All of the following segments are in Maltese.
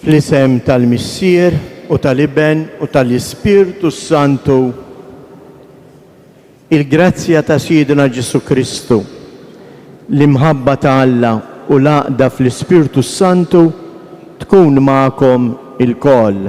Fl-isem tal-Missier u tal-Iben u tal-Ispirtu s-Santu, il-grazzja ta' Sidna Ġesù Kristu, l-imħabba ta' Alla u l-għaqda fl-Ispirtu s-Santu tkun magħkom ilkoll.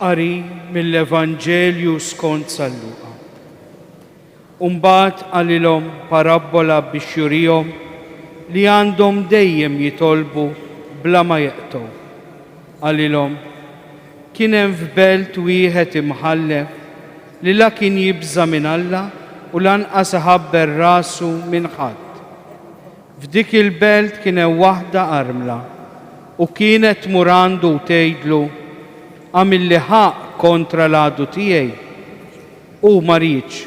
Qari mill-Evanġelju skont San Luqa. U mbagħad qalilhom parabbola biex jurihom li għandhom dejjem jitolbu bla ma jeqtgħu. Qalilhom, Kien hemm f'belt wieħed imħallef li la kien jibża' minn Alla u lanqas iħabber rasu minn ħadd. F'dik il-belt kien hemm waħda armla, u kienet tmur għandu u tgħidlu, Agħmilli ħaqq kontra l-għadu tiegħi. Hu ma riedx,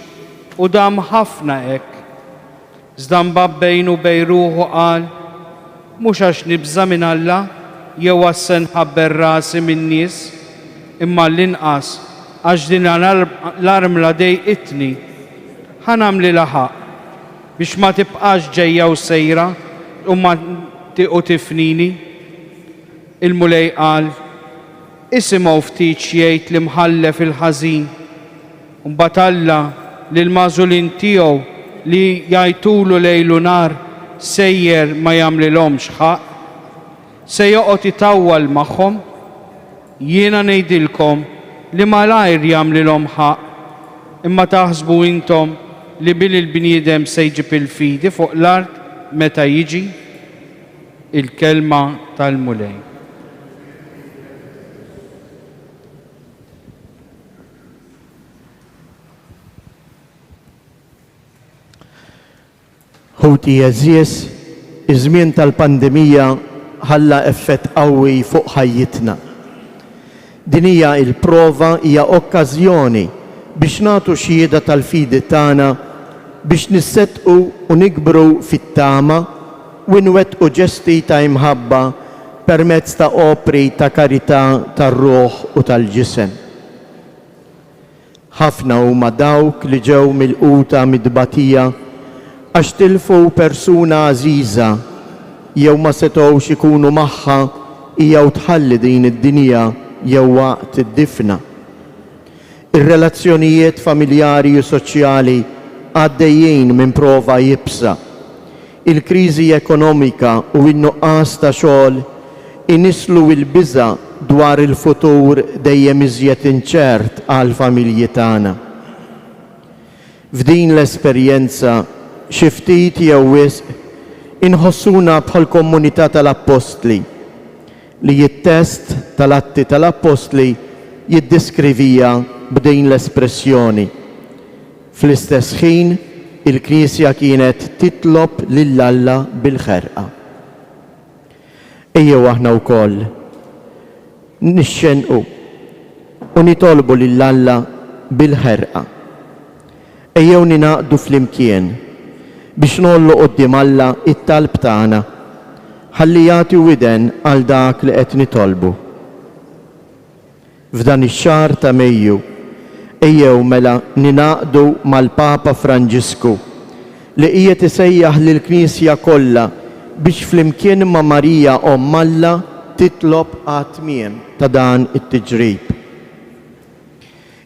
u dam ħafna hekk. Iżda mbagħad bejn u bejn ruħu qal, Mhux għax nibża' minn Alla jew għax se nħabber rasi min-nies, imma għall-inqas għax din l-armla dejqitni. Ħa nagħmlilha ħaqq. Biex ma tibqax ġejja u sejra u ma u tifnini. Il-Mulej qal, Isimgħu ftit x'jgħid l-imħallef il-ħażin. Mbagħad Alla lill-magħżulin tiegħu li jgħajtulu lejl u nhar sejjer ma jagħmlilhomx ħaqq. Se joqgħod itawwal magħhom? Jiena ngħidilkom li malajr jagħmlilhom ħaqq. Imma taħsbu intom li bil il-bniedem se jġib il-fidi fuq l-art meta jiġi? Il-kelma tal-Mulej. Ħuti għeżież, iż-żmien tal-pandemija ħalla effett qawwi fuq ħajjitna. Din hija il-prova hija okkażjoni biex nagħtu xhieda tal-fidi tagħna, biex nisseddqu u nikbru fit-tama u inwettqu ġesti ta' imħabba permezz ta' opri ta' karità tar-ruħ u tal-ġisem. Ħafna huma dawk li ġew milquta mit-tbatija għax tilfu persuna għażiża jew ma setgħux ikunu magħha hija u tħalli din id-dinja jew waqt id-difna. Ir-relazzjonijiet familjari u soċjali għaddejjin minn prova iebsa. Il-kriżi ekonomika u n-nuqqas ta' xogħol inisslu l-biża' dwar il-futur dejjem iżjed inċert għall-familji tagħna. F'din l-esperjenza, xi ftit jew wisq, inħossuna bħall-kommunità tal-appostli, li t-test tal-Atti tal-Appostli jiddeskriviha b'din l-espressjoni, Fl-istess ħin, il-Knisja kienet titlob lil Alla bil-ħerqa. Ejjew aħna wkoll nixxennqu u nitolbu lil Alla bil-ħerqa. Ejjew ningħaqdu flimkien biex ngħollu quddiem Alla t-talb tagħna, ħalli jagħti widen għal dak li qed nitolbu. F'dan ix-xahar ta' Mejju, ejjew mela ningħaqdu mal-Papa Franġisku, li qiegħed isejjaħ lill-Knisja kollha biex flimkien ma' Marija Omm Alla titlob għat-tmiem ta' dan it-tiġrib.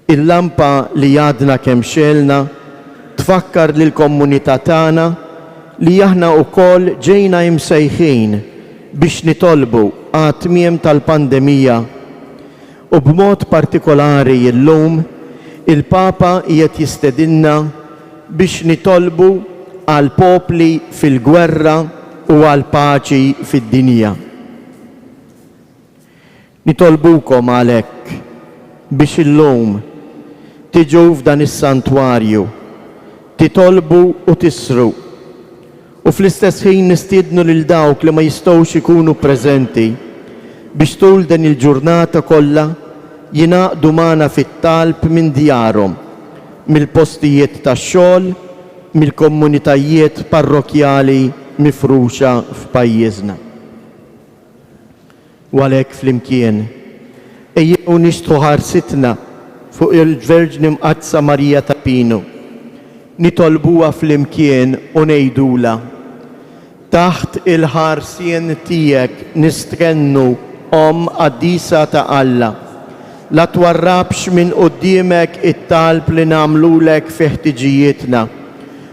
Il-lampa li għadna kemm xegħelna tfakkar lill-kommunità tagħna li aħna wkoll ġejna imsejħin biex nitolbu għat-tmiem tal-pandemija u b'mod partikolari illum il-Papa qiegħed jistedinna biex nitolbu għal popli fil-gwerra u għall-paċi fid-dinja. Nitolbukom għalhekk biex illum tiġu f'dan is-santwarju, titolbu u tisru, u fl-istess ħin nistiednu lil dawk li ma jistgħux ikunu preżenti biex tul din il-ġurnata kollha jingħaqdu magħna fit-talb minn djarhom, mill-postijiet tax-xogħol, mill-komunitajiet parrokkjali mifruxa f'pajjiżna. U għalhekk flimkien, ejjew nixtħu ħarsitna fuq il-Verġni Mqaddsa Marija ta' Pinu, nitolbuha flimkien u ngħidulha, Taħt il-ħarsien tiegħek nistghennu, Omm qaddisa ta' Alla. La twarrabx minn quddiemek it-talb li nagħmlulek fi ħtiġijietna.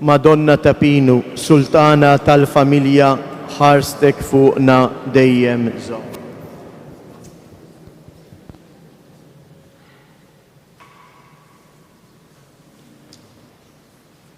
Madonna ta' Pinu, Sultana tal-Familja ħarstek fuqna dejjem żomm.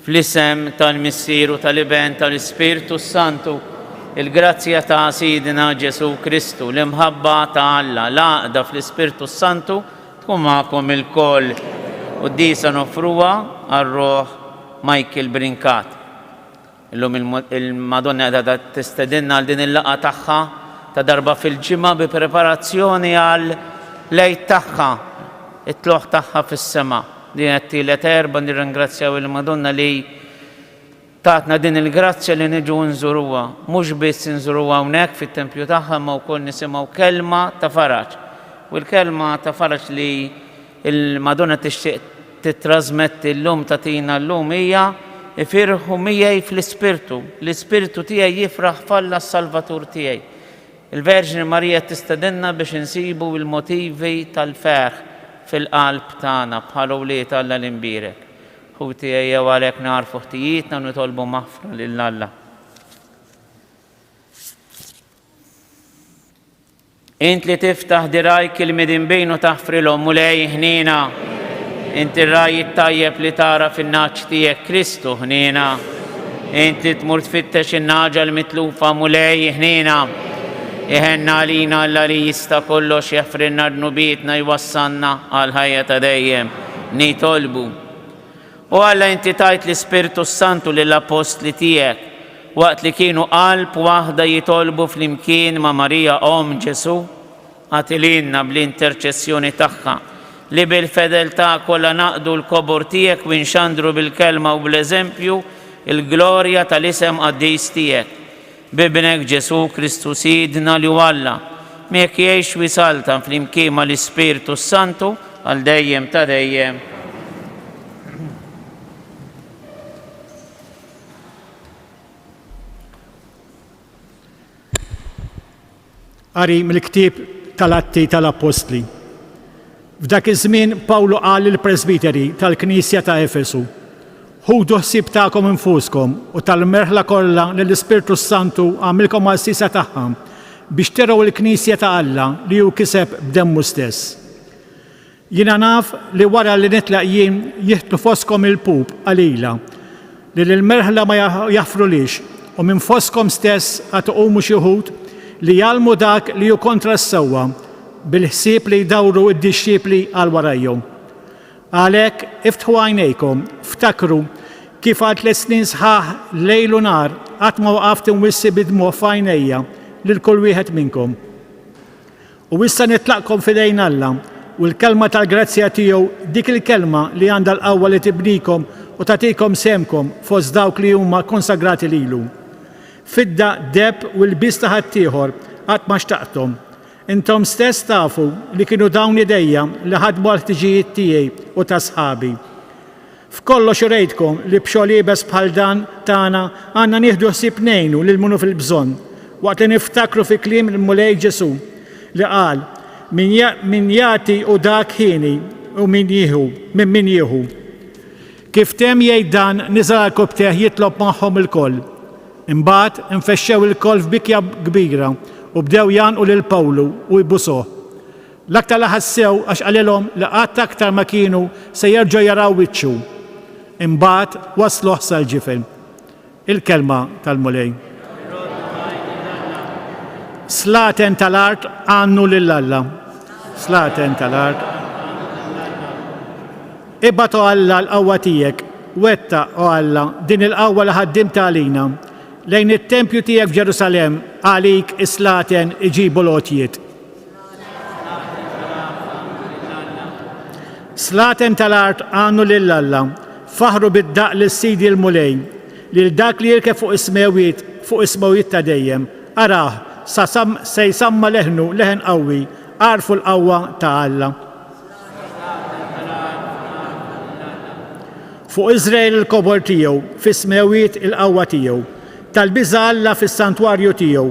Fl-isem tal-Missier u tal-Iben tal-Ispirtu s-Santu, il-grazzja ta' Sidna Ġesù Kristu, l-imħabba ta' Alla, l-għaqda fl-Ispirtu s-Santu tkun magħkom ilkoll. Quddiesa noffruha għar-ruħ Michael Brincat. Illum il-Madonna qiegħda tistedinna għal din il-laqgħa tagħha ta' darba fil-ġimgħa bi preparazzjoni għall-Għid tagħha, it-tlugħ tagħha fis-sema. Din hija t-tielet erba' nirringrazzjaw il-Madonna li tatna din il-grazzja li niġu nżuruha. Mhux biss inżuruha hawnhekk fit-tempju tagħha imma wkoll nisimgħu kelma ta' faraġ. U l-kelma ta' faraġ li l-Madonna tixtieq tittrasmetti llum tagħtina llum hija, Ifirħu miegħi fl-ispirtu, l-ispirtu tiegħi jifraħ f'Alla s-Salvatur tiegħi. Il-Verġni Marija tistedinna biex insibu l-motivi tal-ferħ fil-qalb tagħna bħala wlied Alla l-Imbierek. Ħuti, ejjew għalhekk nagħrfu ħtijietna u nitolbu maħfra lil Alla. Int li tiftaħ dirajk il-midinbin u taħfrilhom mulej ħnina. Int ir-raj tajjeb li tara fin-naċ tiegħek Kristu ħnina. Int li tmur tfittex in-naġa li mitlufa Mulej ħniena. Iħenna għalina Alla li jista' kollox jafrinna dnubietna jwassalna għal ħajja ta' dejjem. Nitolbu. U Alla inti tajt l-Ispirtu s-Santu lill-Appostli tiegħek waqt li kienu qalb waħda jitolbu flimkien ma' Marija Omm Ġesù. Agħti lilna bl-interċessjoni tagħha, li bil-fedeltà kollha naqdu l-kobor tiegħek u nxandru bil-kelma u bl-eżempju l-glorja tal-isem qaddis tiegħek. B'Ibnek Ġesù Kristu Sidna li hu Alla, miegħek jgħix u jsaltan flimkien mal-Ispirtu s-Santu għal dejjem ta' dejjem. Qari mill-ktieb tal-Atti tal-Appostli. F'dak iż-żmien Pawlu qal lill-presbiteri tal-knisja ta' Efesu, Ħudu ħsieb tagħkom infuskom u tal-merħla kollha li l-Ispirtu s-Santu għamilkom għassisa tagħha biex tergħu l-knisja ta' Alla li hu kiseb b'demmu stess. Jiena naf li wara li nitlaq jien jiħtlu fostkom il-lpub qalila li lill-merħla ma jaħfrulhiex, u minn fostkom stess għad iqumu xi wħud li jgħallmu dak li hu kontra s-sewwa bil-ħsieb li jdawru d-dixxipli għal warajhom. Għalhekk, iftħu għajnejkom, ftakru kif għal tliet snin sħaħ lejl u nhar qatt ma waqaft inwissi bid-dmugħ f'għajnejja lil kull wieħed minnkom. U issa nitlaqkom f'idejn Alla u l-kelma tal-grazzja tiegħu, dik il-kelma li għandha l-qawwa li tibnikom u tagħtikom sehemkom fost dawk li huma konsagrati lilu. Fidda, deheb u ilbies ta' ħaddieħor qatt ma xtaqthom. Intom stess tafu li kienu dawn idejja li ħadmu għall-ħtiġijiet tiegħi u ta' sħabi. F'kollox urejtkom li b'xogħol iebes bħal dan tagħna għandna nieħdu ħsieb ngħinu lil minu fil-bżonn, waqt li niftakru fi kliem il-Mulej Ġesù li qal, Min jagħti hu dak ħini u min jieħu, minn min jieħu. Kif temm jgħid dan, niżel għal kupptejh jitlob magħhom ilkoll. Imbagħad, infexxew ilkoll f'bikja kbira u bdew jgħannqu lil Pawlu u jbusuh. L-aktar li ħassew għax qalilhom li qatt aktar ma kienu se jerġgħu jaraw wiċċu. Imbagħad wassluh sal-ġifen. Il-kelma tal-Mulej. Slaten tal-art għannu lil Alla. Slaten tal-art. Ibgħat o Alla l-qawwa tiegħek, wetta o Alla din il-qawwa li ħaddimt għalina. Lejn it-tempju tiegħek f'Ġerusalem għalik is-slaten iġibu l-għotjiet. Slaten tal-art għannu lil Alla, faħru bid-daqq lil Sidi l-Mulej, lil dak li jirkeb fuq is-smewwiet, fuq is-smewwiet ta' dejjem. Arah, sa se jsamma leħnu, leħen qawwi, agħrfu l-qawwa ta' Alla. Fuq Iżrael il-kobor tiegħu, fis-smewwiet il-qawwa tiegħu. Tal-biża' Alla fis-santwarju tiegħu.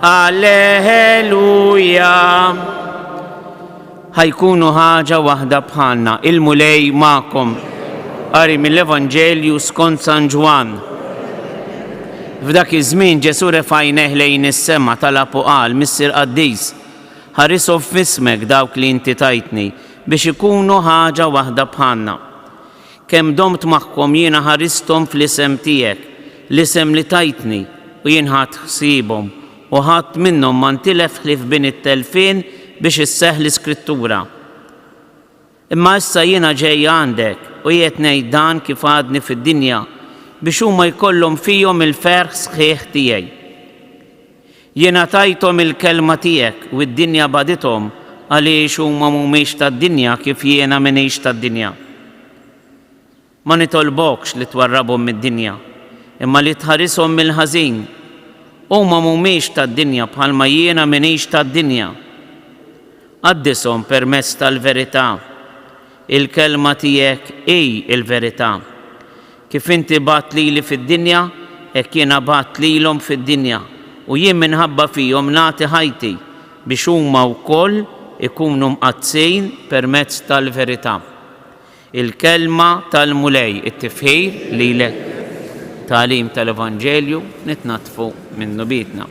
Alleluja! Ħa jkunu ħaġa waħda bħalna, il-Mulej magħkom. Qari mill-Evanġelju skont San Ġwann. F'dak iż-żmien Ġesù refa' għajnejh lejn is-sema talab u qal, Missier Qaddis, ħarishom f'ismek dawk li inti tajtni, biex ikunu ħaġa waħda bħalna. Kemm domt magħkom jiena ħaristhom fl-isem tiegħek, l-isem li tajtni, u jien ħadt ħsiebhom, u ħadd minnhom ma ntilef ħlief bini t-telfien biex isseħħ l-Iskrittura. Imma issa jiena ġej għandek, u qiegħed ngħid dan kif għadni fid-dinja, biex huma jkollhom fihom il-ferħ sħiħ tiegħi. Jiena tajthom il-kelma tiegħek u d-dinja bagħdithom għaliex huma m'humiex tad-dinja kif jiena m'iniex tad-dinja. Ma nitolbokx li twarrabhom mid-dinja, imma li tħarishom mill-ħażin. Huma m'humiex tad-dinja bħalma jiena m'iniex tad-dinja. Qaddishom permezz tal-verità. Il-Kelma tiegħek hi l-verità. Kif inti bgħadt lili fid-dinja, hekk jiena bgħadt lilhom fid-dinja, u jien minħabba fihom nagħti ħajti, biex huma wkoll ikunu mqaddsin permezz tal-verità. Il-Kelma tal-Mulej, it-tifħir lilek, tagħlim tal-evanġelju, nitnaddfu minnu biedna.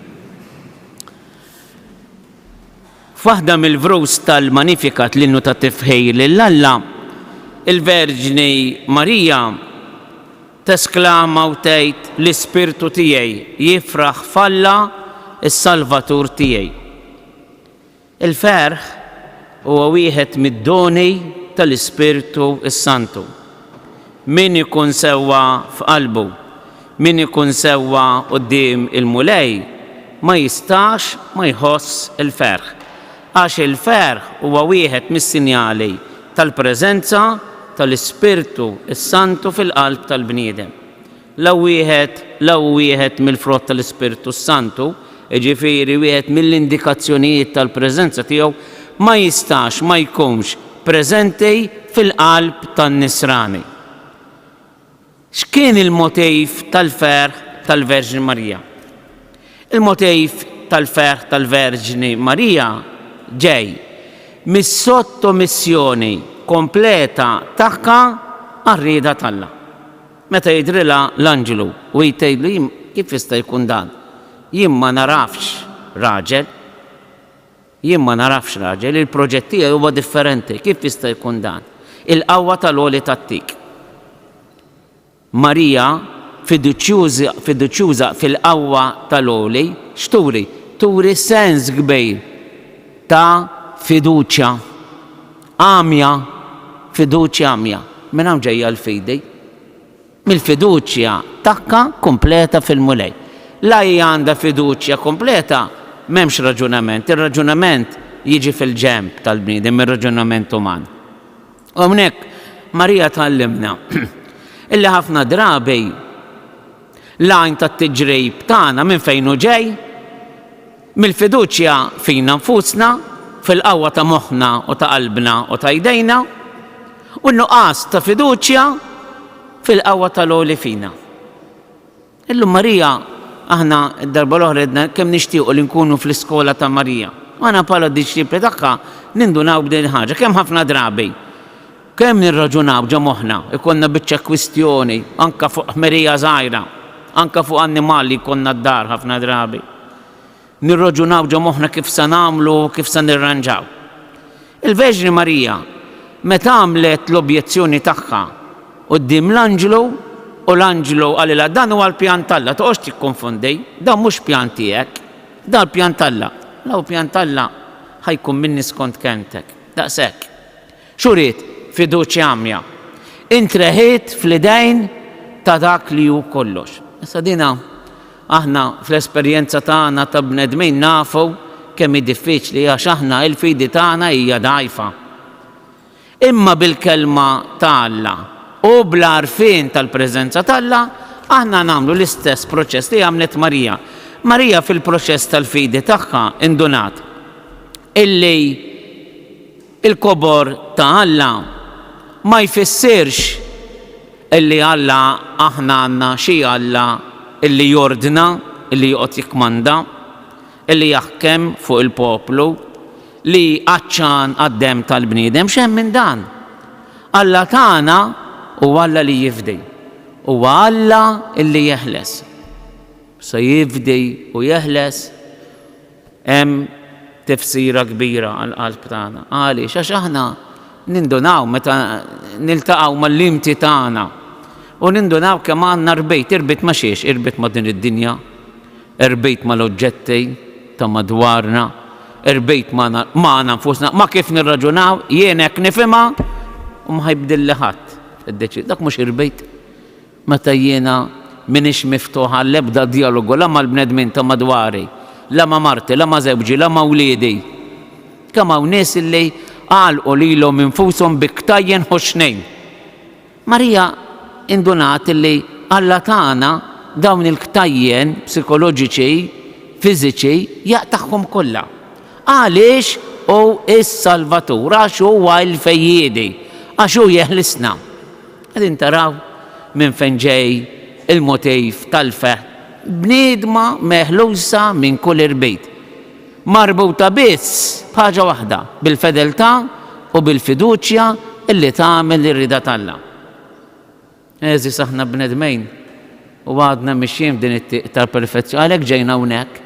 F'waħda mill-vrus tal-Magnificat, l-Innu tat-Tifħir lil Alla, il-Verġni Marija tesklama u tgħid, L-ispirtu tiegħi jifraħ f'Alla s-Salvatur tiegħi. Il-ferħ huwa wieħed mid-doni tal-Ispirtu s-Santu. Min ikun sewwa f'qalbu Min ikun sewwa quddiem il-Mulej ma jistax ma jħoss il-ferħ, għax il-ferħ huwa wieħed mis-sinjali tal-preżenza tal-Ispirtu s-Santu fil-qalb tal-bniedem. La wieħed, la hu wieħed mill-frott tal-Ispirtu s-Santu, jiġifieri wieħed mill-indikazzjonijiet tal-preżenza tiegħu, ma jistax ma jkunx preżenti fil-qalb tan-nisrani. X'kien il-motiv tal-ferħ tal-Verġni Marija? Il-motiv tal-ferħ tal-Verġni Marija ġej mis-sottomissjoni kompleta tagħha għar-rieda t'Alla. Meta jidhrilha l-anġlu u hi tgħidlu kif jista' jkun dan, jien ma narafx raġel, Jien ma nagħrafx raġel, il-proġett tiegħi huwa differenti, kif jista' jkun dan? Il-qawwa tal-għoli tagħtik. Marija, fiduċjuża fil-qawwa tal-għoli, x'turi? Turi sens kbir ta' fiduċja għamja, fiduċja għamja. Minn hawn ġejja l-fidi. mill-fiduċja tagħha kompleta fil-Mulej. La hi għandha fiduċja kompleta, m'hemmx raġunament. Ir-raġunament jiġi fil-ġenb tal-bniedem, ir-raġunament uman. U hawnhekk Marija tgħallimna illi ħafna drabi l-għajn tat-tiġrib tagħna minn fejn hu ġej? Mill-fiduċja fina nfusna, fil-qawwa ta' moħħna u ta' qalbna u ta' jdejna, u n-nuqqas ta' fiduċja fil-qawwa tal-għoli fina. Illum Marija, aħna d-darba l-oħra għedna kemm nixtiequ li nkunu fl-iskola ta' Marija. U aħna bħala d-disċipli tagħha nindunaw b'din il-ħaġa kemm ħafna drabi. Kemm nirraġunaw ġo moħħna, ikollna biċċa kwistjoni, anke fuq ħmerija żgħira, anke fuq annimal li jkollna d-dar ħafna drabi. Nirraġunaw ġo moħħna kif se nagħmlu, kif se nirranġaw. Il-Verġni Marija, meta għamlet l-objezzjoni tagħha quddiem l-anġlu u l-anġlu qalilha dan huwa l-pjan t'Alla, toqgħodx tikkonfondi, dan mhux pjan tiegħek, dan il-pjan t'Alla. La hu pjan t'Alla, ħa jkun minni skont kelmtek. Daqshekk. Xuriet fiduċja għamja. Intreħiet fl-idejn ta' Dak li hu kollox. Issa dinha aħna fl-esperjenza tagħna ta' bnedmin nafu kemm hi diffiċli għax aħna il-fidi tagħna hija dgħajfa. Imma bil-Kelma ta' Alla u bl-għarfien tal-preżenza t'Alla aħna nagħmlu l-istess proċess li għamlet Marija. Marija fil-proċess tal-fidi tagħha indunat illi, Il-kobor ta' Alla ma jfissirx li Alla aħna għandna xi Alla li jordna, li joqgħod jikkmanda, li jaħkem fuq il-poplu, li għatxan għad-demm tal-bniedem. X'hemm minn dan! Alla tagħna hu Alla li jifdi. Huwa Alla li jeħles. Se jifdi u jeħles. Hemm tifsira kbira għall-qalb tagħna. Għaliex? Għax aħna nindunaw meta niltaqgħu mal-limti tagħna u nindunaw kemm għandna rbit. Irbit ma' xiex? Irbit ma' din id-dinja, irbit mal-oġġetti ta' madwarna, irbit magħna nfusna, ma' kif nirraġunaw, jien hekk nifhimha u ma ħa jibdilli ħadd id-deċiż. Dak mhux irbit. Meta jiena m'iniex miftuħ għall-ebda djalogu la mal-bnedmin ta' madwari, la ma' marti, la ma' żewġi, la ma' wliedi. Kemm hawn nies li għalqu lilhom infushom bi ktajjen ħoxnin! Marija indunat li Alla tana dawn il-ktajjen psikoloġiċi, fiżiċi, jaqtagħhom kollha. Għaliex hu s-Salvatur? Għax huwa l-Fejjiedi. Għax hu jeħlisna. Qegħdin taraw minn fejn ġej il-motiv tal-fehd, bniedma meħlusa minn kull irbit, marbuta biss b'ħaġa waħda, bil-fedeltà u bil-fiduċja li tagħmel ir-rieda t'Alla. Għeżież aħna bnedmin u għadna mixjin f'din it-tieq tal-perfezzjoni, għalhekk ġejna hawnhekk,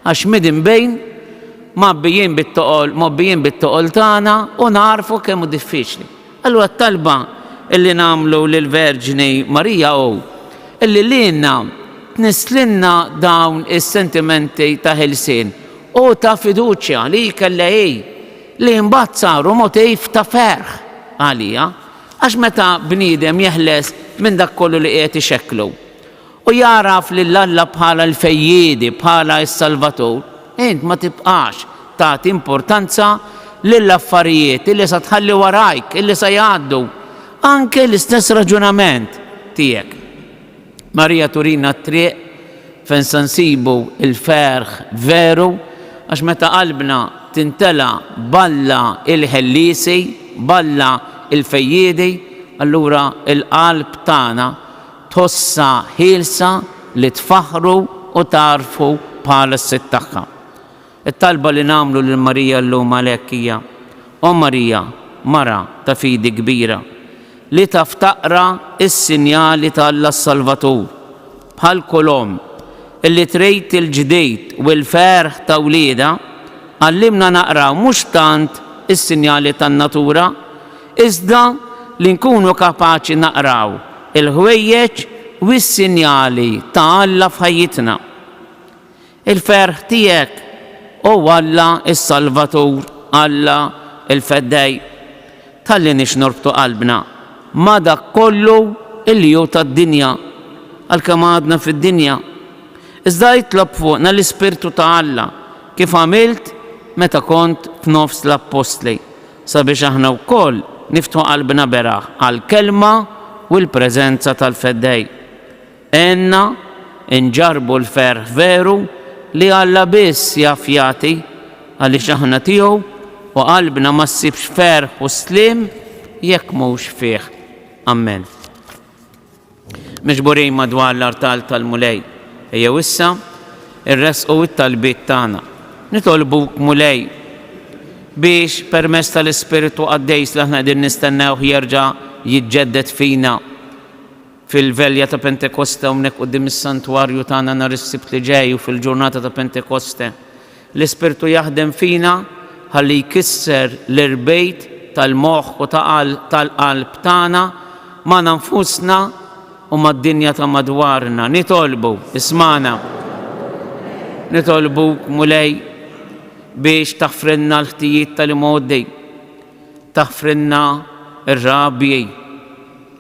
għax midinbin mgħabbijin bit-toqol, mgħobbijin bit-toqol tagħna u nagħrfu kemm hu diffiċli. Allura t-talba li nagħmlu lill-Verġni Marija hu li lilna tnisslilna dawn is-sentimenti ta' ħelsien u ta' fiduċja li hi kellha hi, li mbagħad saru motiv ta' ferħ għalija. Għax meta bniedem jeħles minn dak kollu li qiegħed ixekklu, u jagħraf lil Alla bħala l-Fejjiedi, bħala s-Salvatur, int ma tibqax tagħti importanza lill-affarijiet illi sa tħalli warajk, illi sa jgħaddu. Anke l-istess raġunament tiegħek. Marija turina t-triq fejn sa nsibu l-ferħ veru għax meta qalbna tintela' b'Alla l-Ħelliesi, b'Alla l-Fejjiedi, allura l-qalb tagħna tħossha ħielsa li tfaħħru u tgħarrfu bħala s-Sid tagħha. It-talba li nagħmlu lil Marija llum għalhekk hija, O Marija, mara ta' fidi kbira, li taf taqra s-sinjali ta' Alla s-Salvatur, bħal kull omm li trid il-ġdid u l-ferħ ta' wliedha, għallimna naqraw mhux tant is-sinjali tan-natura, iżda li nkunu kapaċi naqraw il-ħwejjeġ u s-sinjali ta' Alla f'ħajjitna. Il-ferħ tiegħek, O Alla s-Salvatur, Alla l-Feddej, talli nix norbtu qalbna ma' dak kollu li hu tad-dinja, għalkemm għadna fid-dinja, iżda itlob fuqna l-Ispirtu ta' Alla, kif għamilt meta kont f'nofs l-Appostli, sabiex aħna wkoll niftħu qalbna beraħ għall-Kelma u l-preżenza tal-Feddej. Għenna nġarrbu l-ferħ veru li Alla biss jaf jagħti għaliex aħna tiegħu u qalbna ma ssibx ferħ u sliem jekk mhux fih. Ammen. Miġburin madwar l-artal tal-Mulej, ejjew issa iressqu t-talbiet tagħna. Nitolbuk, Mulej, biex permezz tal-Ispirtu Qaddejs li aħna qegħdin nistennewh jerġa' jiġġedded fina fil-velja ta' Pentekoste hawnhekk quddiem is-Santwarju tagħna nhar is-Sibt li ġej u fil-ġurnata ta' Pentekoste, L-Ispirtu jaħdem fina ħalli jkisser l-irbejt tal-moħħ u tal-qalb tagħna magħna nfusna u mad-dinja ta' madwarna. Nitolbu, ismagħna. Nitolbuk, Mulej, biex taħfrilna l-ħtijiet tal-imgħoddi, taħfrilna r-rabji,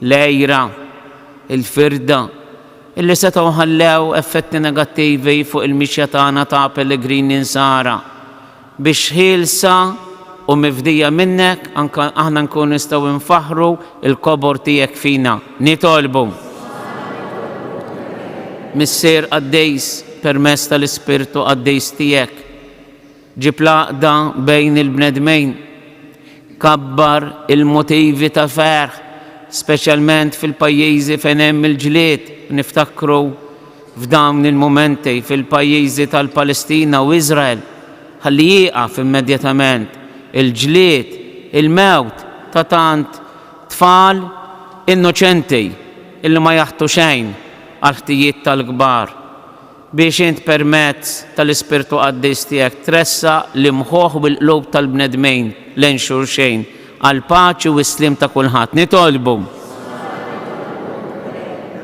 l-għira, il-firda, li setgħu ħallew effetti negattivi fuq il-mixja tagħna ta' pellegrini nsara. Biex ħielsa u mifdija minnek, anke aħna nkunu nistgħu nfaħħru l-kobor tiegħek fina. Nitolbu, Missier qaddis, permezz tal-Ispirtu Qaddis tiegħek, Ġib l-għaqda bejn il-bnedmin. Kabbar il-motivi ta' ferħ, speċjalment fil-pajjiżi fejn hemm il-ġlied, u niftakru f'dawn il-mumenti fil-pajjiżi tal-Palestina u Iżrael. Ħalli jieqaf immedjatament il-ġlied, il-mewt ta' tant tfal innoċenti li ma jaħtu xejn għall-ħtijiet tal-kbar. Biex int permezz tal-Ispirtu Qaddis tiegħek tressaq l-imħuħ u l-qlub tal-bnedmin lejn xulxejn, għall-paċi u s-sliem ta' kulħadd. Nitolbu.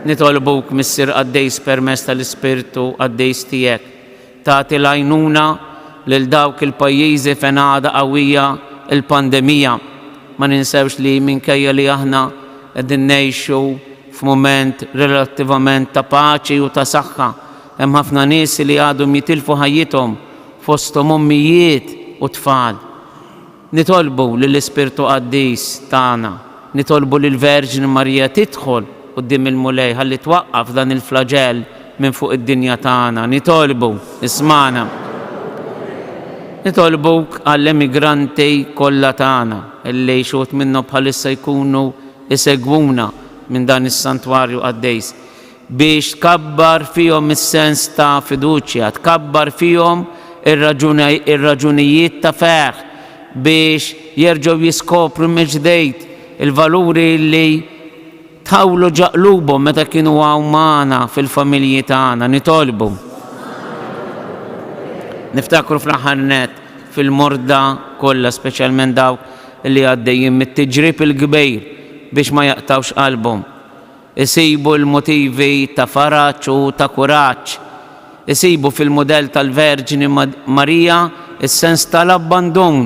Nitolbuk, Missier Qaddis, permezz tal-Ispirtu Qaddis tiegħek, tagħti l-għajnuna lil dawk il-pajjiżi fejn għadha qawwija l-pandemija. Ma ninsewx li minkejja li aħna qegħdin ngħixu F'mument relattivament ta' paċi u ta' saħħa, hemm ħafna nies li għadhom jitilfu ħajjithom, fosthom ommijiet u tfal. Nitolbu lill-Ispirtu Qaddis tagħna, nitolbu lill-Verġni Marija tidħol quddiem il-Mulej ħalli twaqqaf dan il-flaġell minn fuq id-dinja tagħna. Nitolbu, ismagħna. Nitolbuk għall-emigranti kollha tagħna, li xi wħud minnhom bħalissa jkunu isegwuna minn dan is-santwarju qaddejs, biex tkabbar fihom is-sens ta' fiduċja, tkabbar fihom ir-raġunijiet ta' ferħ, biex jerġgħu jiskopru mill-ġdejt il-valuri li tħawlu ġa qlubhom meta kienu hawn magħna fil-familji tagħna. Nitolbu. Niftakru fl-aħħar nett fil-morda kollha, speċjalment dawk li għaddejjin mit-tiġrib il-kbir biex ma jaqtgħux qalbhom. Isibu l-motivi ta' faraġ u ta' kuraġġ. Isibu fil-mudell tal-Verġni Marija s-sens tal-abbandun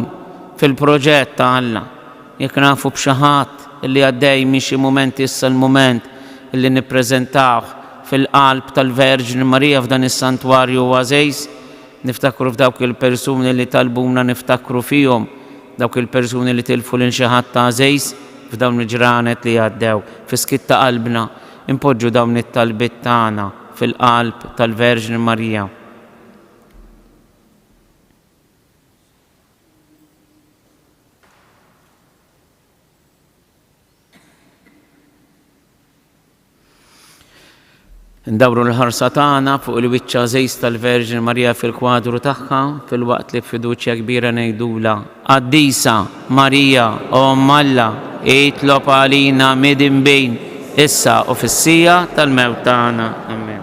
fil-proġett ta' Alla. Jekk nafu b'xi ħadd li għaddej minn xi mument issa l-mument li nippreżentawh fil-qalb tal-Verġni Marija f'dan is-Santwarju għażiż. Niftakru f'dawk il-persuni li talbuna niftakru fihom, dawk il-persuni li tilfu lil xi ħadd għażiż f'dawn il-ġranet li għaddew. Fi skiet ta' qalbna, inpoġġu dawn it-talbiet tagħna fil-qalb tal-Verġni Marija. Ndawru l-ħarsa tagħna fuq il-wiċċ għażiż tal-Verġni Marija fil-kwadru tagħha, filwaqt li b'fiduċja kbira ngħidulha, Qaddisa Marija, o Omm Alla, itlob għalina midinbin, issa u fis-siegħa tal-mewt tagħna. Amen.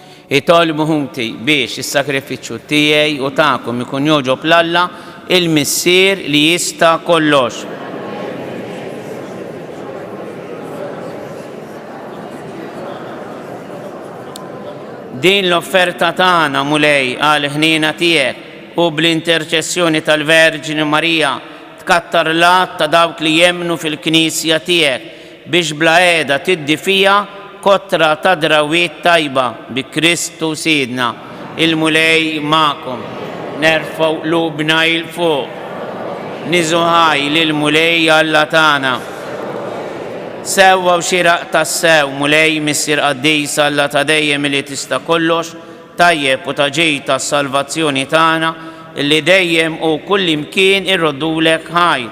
Itolbu ħuti biex is-sagrifiċċju tiegħi u tagħkom ikun jogħġob 'l Alla, il-Missier li jista' kollox. Din l-offerta tagħna, Mulej, għal ħniena tiegħek u bl-interċessjoni tal-Verġni Marija tkattar l-għadd ta' dawk li jemmnu fil-Knisja tiegħek, Biex bla qiegħda tiddi fija kotra ta' drawwiet tajba bi Kristu Sidna. Il-Mulej magħkom. Nerfgħu qlubna 'il fuq. Nieżu ħaj lill-Mulej Alla tagħna. Sewwa u xieraq tassew, Mulej, Missier Qaddis, Alla ta' dejjem illi tista' kollox, tajjeb u ta' ġid għas-salvazzjoni tagħna, illi dejjem u kullimkien irroddulek ħajr,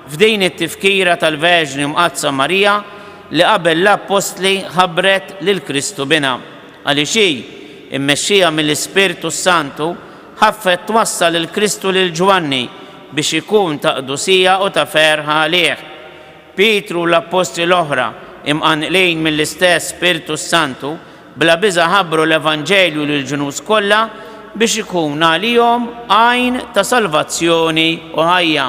F'din it-tifkira tal-Verġni Mqaddsa Marija li qabel l-Appostli ħabbret lil Kristu Binha, għaliex hi, immexxija mill-Ispirtu s-Santu, ħaffet twassal lil Kristu lil Ġwanni biex ikun ta' qdusija u ta' ferħ għalih. Pietru u l-Appostli l-oħra, imqanqlin mill-istess Spirtu s-Santu, Bla biża' ħabbru l-evanġelju lill-ġnus kollha biex ikun għalihom għajn ta' salvazzjoni u ħajja.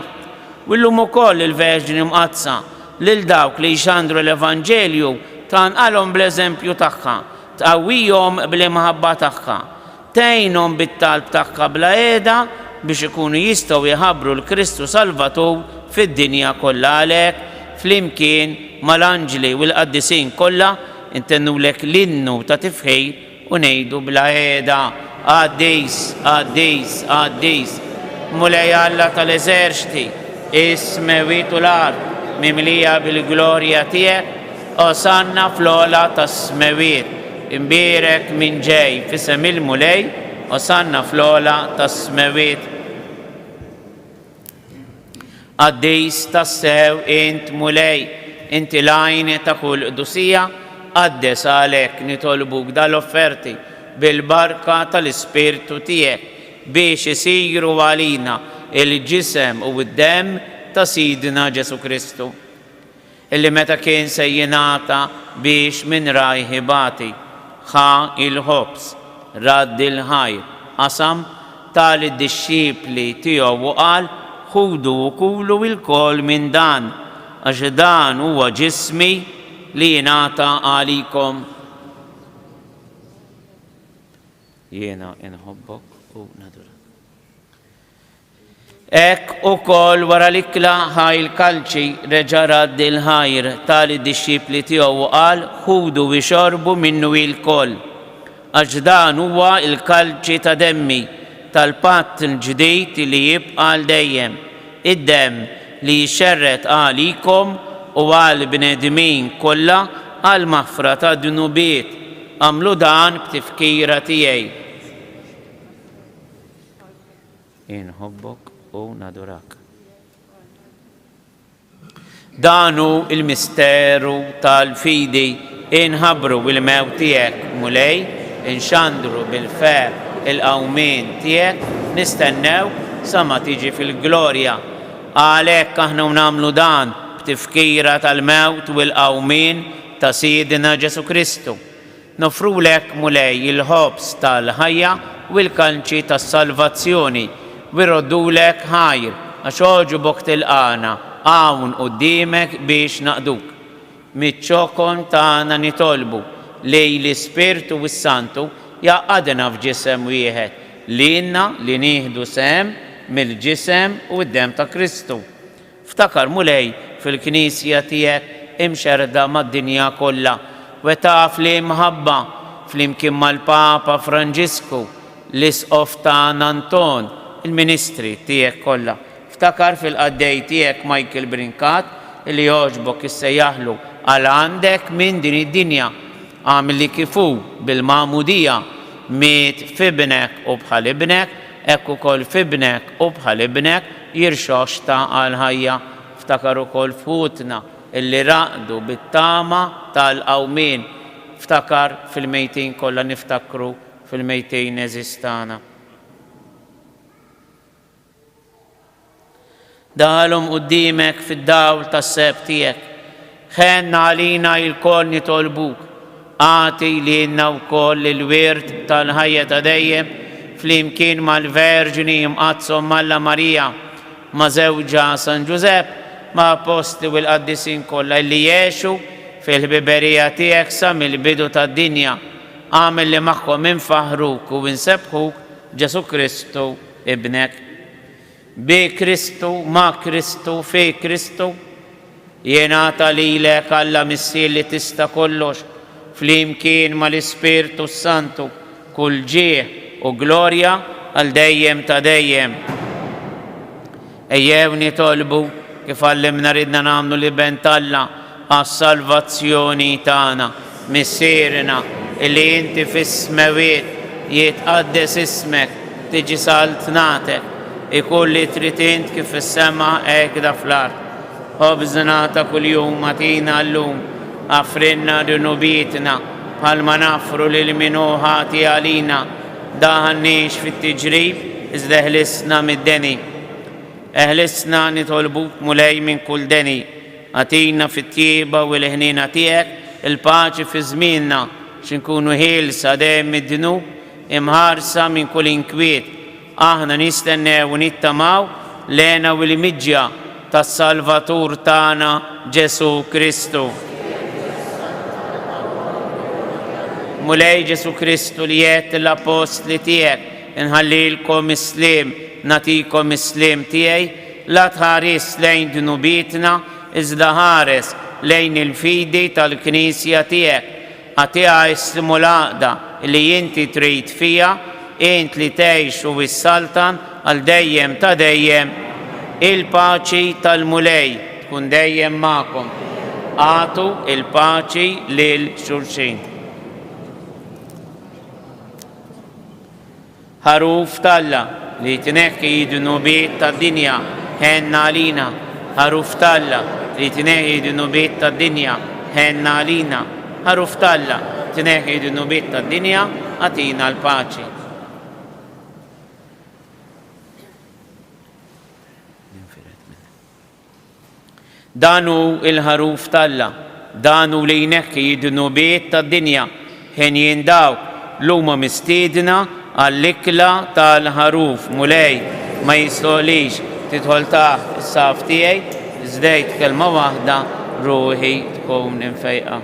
U illum ukoll il-Verġni Mqaddsa, lil dawk li jxandru l-evanġelju, tqanqalhom bl-eżempju tagħha, tqawwihom bl-imħabba tagħha. Tgħinhom bit-talb tagħha bla qiegħda biex ikunu jistgħu jħabbru l-Kristu Salvatur fid-dinja kollha. Għalhekk, flimkien mal-anġli u l-qaddisin kollha, intennulek l-innu ta' tifħir u ngħidu bla qiegħda, Qaddis, qaddis, qaddis, Mulej Alla tal-eżerċti, is-smewwiet u l-art mimlija bil-glorja tiegħek. Osanna fl-ogħla tas-smewwiet, imbierek min ġej f'isem il-Mulej, osanna fl-ogħla tas-smewwiet. Qaddis tassew int Mulej, inti l-għajn ta' kull qdusija, qaddes għalhekk nitolbuk dal-offerti bil-barka tal-Ispirtu tiegħek biex isiru għalina l-ġisem u d-demm ta' Sidna Ġesù Kristu. Illi meta kien se jingħata biex minn rajh ibati, ħa il-ħobż, radd il-ħajr, qasam, ta lid-dixxipli tiegħu u qal, Ħudu u kulu ilkoll minn dan, għax dan huwa ġismi li jingħata għalikom. Jiena inħobbok u nadurak. Hekk ukoll wara l-ikla ħa il-kalċi, reġa' radd il-ħajr ta' lid-dixxipli tiegħu u qal, Ħudu u xorbu minnu ilkoll, għax dan huwa l-kalċi ta' demmi tal-patt il-ġdid li jibqa' għal dejjem, id-demm li jixxerred għalikom u għall-bnedmin kollha għall-maħfra tad-dnubiet. Agħmlu dan b'tifkira tiegħi. Inħobbok u nadurak. Danu il-misteru tal-fidi inħabru bil-mew tiegħek, Mulej, inxandru bil-fer il-qawmin tiegħek, nistennew sa ma tiġi fil-glorja. Għalhekk aħna nagħmlu dan b'tifkira tal-mewt u l-qawmien ta' Sidna Ġesu Kristu. Noffrulek, Mulej, il-ħobż tal-ħajja u l-kalċi tas-salvazzjoni, u rroddulek ħajr, għax għoġbok tilqagħna hawn quddiemek biex naqduk. Miċ-ċokon tagħna nitolbu li l-Ispirtu s-Santu jgħaqqadna f'ġisem wieħed, lilna li nieħdu sehem mill-ġisem u d-demm ta' Kristu. Ftakar, Mulej, fil-Knisja tiegħek imxerrda mad-dinja kollha, wettaqha fl-imħabba, flimkien mal-Papa Franġisku, l-Isqof tagħna Anton, il-ministri tiegħek kollha. Ftakar fil-qaddej tiegħek Michael Brincat, li jogħġbok issejjaħlu għal għandek minn din id-dinja. Agħmilli kif hu, bil-magħmudija, miet f'Ibnek u bħal Ibnek, hekk ukoll f'Ibnek u bħal Ibnek, Jirxox xtaq għall-ħajja, ftakar ukoll f'ħutna illi raqdu bit-tama tal-qawmien, ftakar fil-mejtin kollha niftakru fil-mejtin għeżież tagħna. Daħalhom quddiemek fid-dawl tas-seheb tiegħek. Ħenn għalina ilkoll nitolbuk, agħti lilna wkoll il-wirt tal-ħajja ta' dejjem flimkien mal-Verġni Imqaddsom m'Alla Marija, ma' żewġha San Ġużepp, ma' Appostli u l-Qaddisin kollha illi għexu fil-ħbiberija tiegħek sa mill-bidu tad-dinja. Agħmel li magħhom infaħħruk u nsebbħuk, Ġesù Kristu Ibnek. Bi Kristu, ma' Kristu, fi Kristu, jingħata lilek, Alla Missier li tista' kollox, flimkien mal-Ispirtu s-Santu, kull ġieh u glorja għal dejjem ta' dejjem. Ejjew nitolbu, kif għallimna ridna nagħmlu l-Iben t'Alla, għas-salvazzjoni tagħna. Missierna li inti fis-smewwiet, jitqaddes ismek, tiġi saltnatek, ikun li trid int kif fis-sema hekda fl-art. Ħobżna ta' kuljum agħtina llum. Aghfrilna dnubietna bħalma naghfru lil min hu ħati għalina. Ddaħħalniex fit-tiġrib, iżda eħlisna mid-deni. Eħlisna nitolbuk Mulej minn kull deni. Agħtina fit-tjieba u l-ħniena tiegħek il-paċi fi żmienna, biex inkunu ħielsa dejjem mid-dnub, imħarsa minn kull inkwiet. Aħna nistennew u nittamaw l-hena u l-imġja tas-Salvatur tagħna Ġesù Kristu. Mulej Ġesù Kristu li għedt lill-Appostli tiegħek, inħallilkom is-sliem, nagħtikom is-sliem tiegħi, La tħaris lejn dnubietna, iżda ħares lejn il-fidi tal-Knisja tiegħek. Agħtiha ism u l-għaqda li inti trid fiha, int li tgħix u issaltan għal dejjem ta' dejjem. Il-paċi tal-Mulej tkun dejjem magħkom. Agħtu l-paċi lil xulxin. Ħaruf t'Alla, li tneħħi d-dnubiet tad-dinja, ħenn għalina. Ħaruf t'Alla, li tneħħi d-dnubiet tad-dinja, ħenn għalina. Ħaruf t'Alla, tneħħi d-dnubiet tad-dinja, agħtina l-paċi. Dan hu l-Ħaruf t'Alla. Dan hu l-Għajnejh hi d-dnubiet tad-dinja. Henjin dawk l'huma mistiedna għall-ikla tal-Ħaruf. Mulej, ma jistħoqlix tidħol taħt is-saqaf tiegħi, żdejt kelma waħda ruħi tkun imfejqa.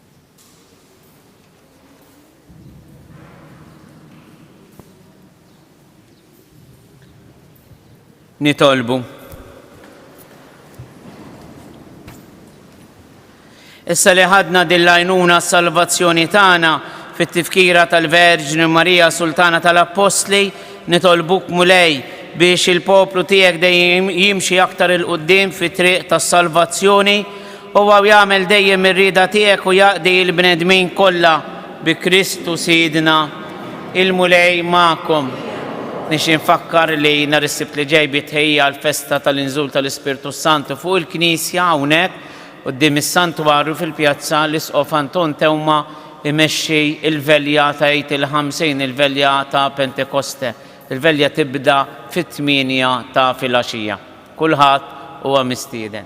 Nitolbu. Issa li ħadna din l-għajnuna salvazzjoni tagħna fit-tifkira tal-Verġni Marija Sultana tal-Appostli, nitolbuk mulej biex il-poplu tiegħek dejjem jimxi aktar il-qudiem fit-triq tas-salvazzjoni Huwa u jagħmel dejjem ir-rieda tiegħek u jaqdi l-bnedmin kollha bi Kristu Sidna. Il-Mulej magħkom. Nixtieq nfakkar li nhar is-Sibt li ġej bit-tħejjija għall-festa tal-inżul tal-Ispirtu s-Santu fuq il-Knisja hawnhekk quddiem is-Santwarju fil-Pjazza l-Isqof Anton Teuma jmexxi l-velja ta' Għid il-Ħamsin, il-velja ta' Pentekoste. Il-velja tibda fit-tmienja ta' filgħaxija. Kulħadd huwa mistieden.